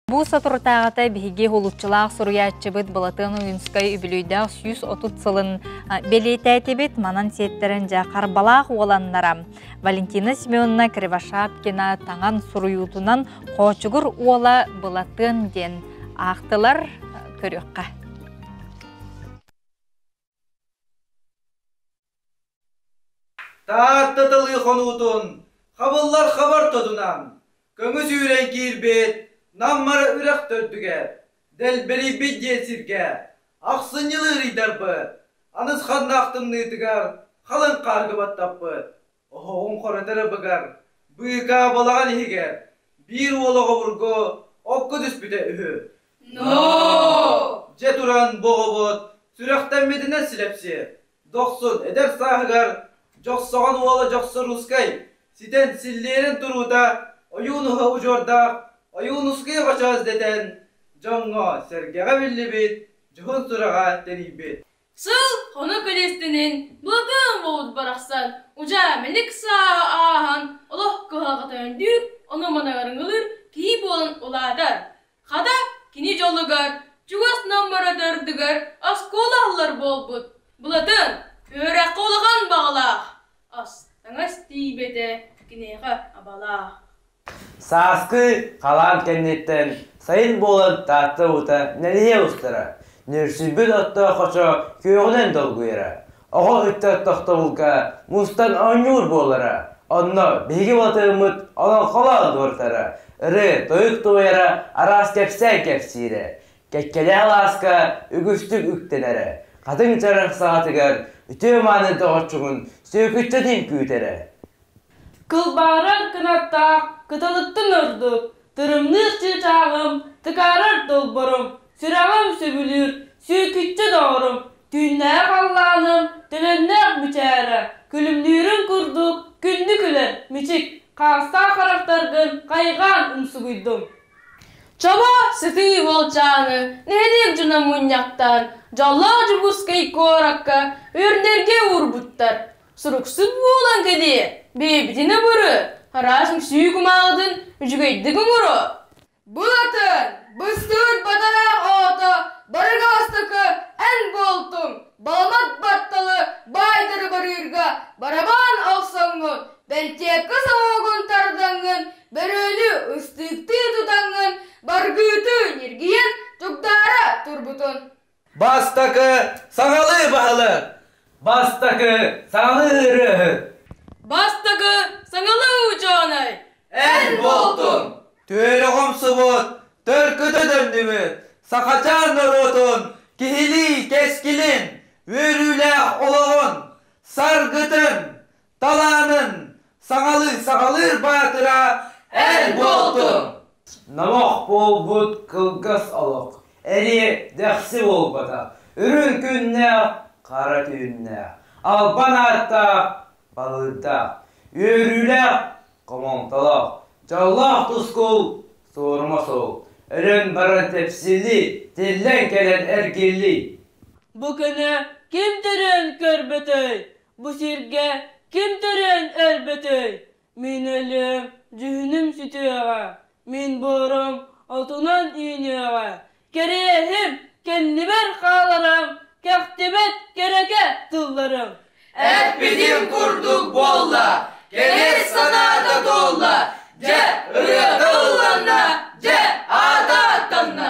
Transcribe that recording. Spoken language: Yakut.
Бу соторутааҕыта биһиги улуччулаах суруйааччыбыт Былатыан Уйунскай үбүлүйдээх сүүс отут сылын бэлиэтээтибит. Манан сиэттэрэн дьэ харбалаах уоланнара Валентина Семеновна Кривошапкина таҥан суруйуутунан Хоочугур уола Былатыан диэн аахтылар. Көрүөххэ. Таатта тылы хонуутун хабыллар хабартотунан көҥү сүүрэн киирбит Нам Мара үрэх төрдүгэр дэлбэрийбит диэн сиргэ ахсынньылы ырыйдарбыт, анысханнаах тымныытыгар халыҥ хаарга баттаппыт. Оһоҕун хоротор ыбыгар быыкаабалаҕын иһигэр биир уол оҕобургу окко түспүтэ үһү. Дьэ туран бу оҕобут сүрэхтэммитинэ силэпсиэ, дохсун эдэр сааһыгар Дьохсоҕон уола Дьохсоруускай ситэн силлиэрин туруута Ойуунуһа удьуордаах Ойуунускайы хочоос дэтэн дьоҥҥо, сэргэҕэ биллибит дьоһун сураҕа тэнийбит. Сыл хонук лиэстинин былатаан болут барахсан удьаа мэлик сааһы ааһан олох кыһалҕата өндөйүк, ону-маныларын ылыр киһи буолан улаатар. Хата кини дьолугар, чугас Нам быратыардыгар оскуола аһыллар буолбут. Былатын үөрэххэ улахан баҕалаах, ас-таҥас тиийбэтэ киниэхэ абалаах. Сааскы халаан кэнниттэн сайын буолан Таатта уута нэлийэ устара, нөрсүйбүт оттоохочо күөҕүнэн долгуйара, оҕо ыччат тохтобулга мустан оонньуур буолара, онно биһиги батыһыммыт олоҥхолоон туортара, ырыа-тойук тулуйара араас кэпсээн кэпсиирэ, кэккэлээх алааска үгүстүк үктэнэрэ, хатыҥ чарах саҕатыгар үтүө маанын тоҕоччугун сүөкүччэтин күүтэрэ. Кылбаарар кынаттаах кыталыктан ордук тырымныыр чыычааҕым, тыкаарар долборум, сүрэҕим сөбүлүүр сүөкүччэ доҕорум, түүннэри халлааным төлөннөөх мичээрэ, күлүмнүүрүн курдук күндү күлэр мичик, хаастаах харахтаргын хайҕаан умсугуйдум. Чобо сытыы уолчааны нэһилиэк дьоно мунньахтаан дьоллоох Дьокуускай куоракка үрдэргэ уурбуттар. Суруксун буолан кэлиэ, бэйэбитин ымыры, араас үҥсүү кумааҕытын үчүгэйдик оҥоро. Былатын, быстыыр бадараах оҕото, барыга бастакы эн буолтуҥ, баламат батталы баайдары барыырга барабаан охсоҥҥун, бэлтиэккэ сомоҕугун тардаҥҥын, бөрөлү ыстыыктыы тутаҥҥын, баргыыты ньиргийэн, тугдаара турбутун. Бастакы саҕалыы баһылык. Бастакы саҥалыы ырыаһыт. Бастакы саҥалыы учуонай. Эр болтун. Түөлэхомсубут, төлкүтэ дөннүбүт, Сахачаан норуотун киһилии кэскилин, үөрүүлээх олоҕун, саргытын, Талаанын саҕалыы саҕалыыр баатыра эр буолтун! Номох буолбут кылгас олох эмиэ дэхси буолбатах, үрүҥ күннээх, хара түүннээх, албан ааттаах, балыырдаах, үөрүүлээх, хомолтолоох, дьоллоох тускул, суорума суол, өлөн баран тэпсиллии, тиллэн кэлэн эргиллии. Бу күнү ким дириҥ көрбүтүй? Бу сиргэ ким төрөөн өлбөтүй? Мин өлүөм, дьүһүнүм сүтүөҕэ. Мин буорум отунан үүнүөҕэ. Кэриэһим, кэннибэр хааларым, кэхтибэт кэрэкэ тылларым. Эппитим курдук буолла, кэлэр санаата туолла. Дьэ, ырыата ылланна, дьэ, аата аттанна.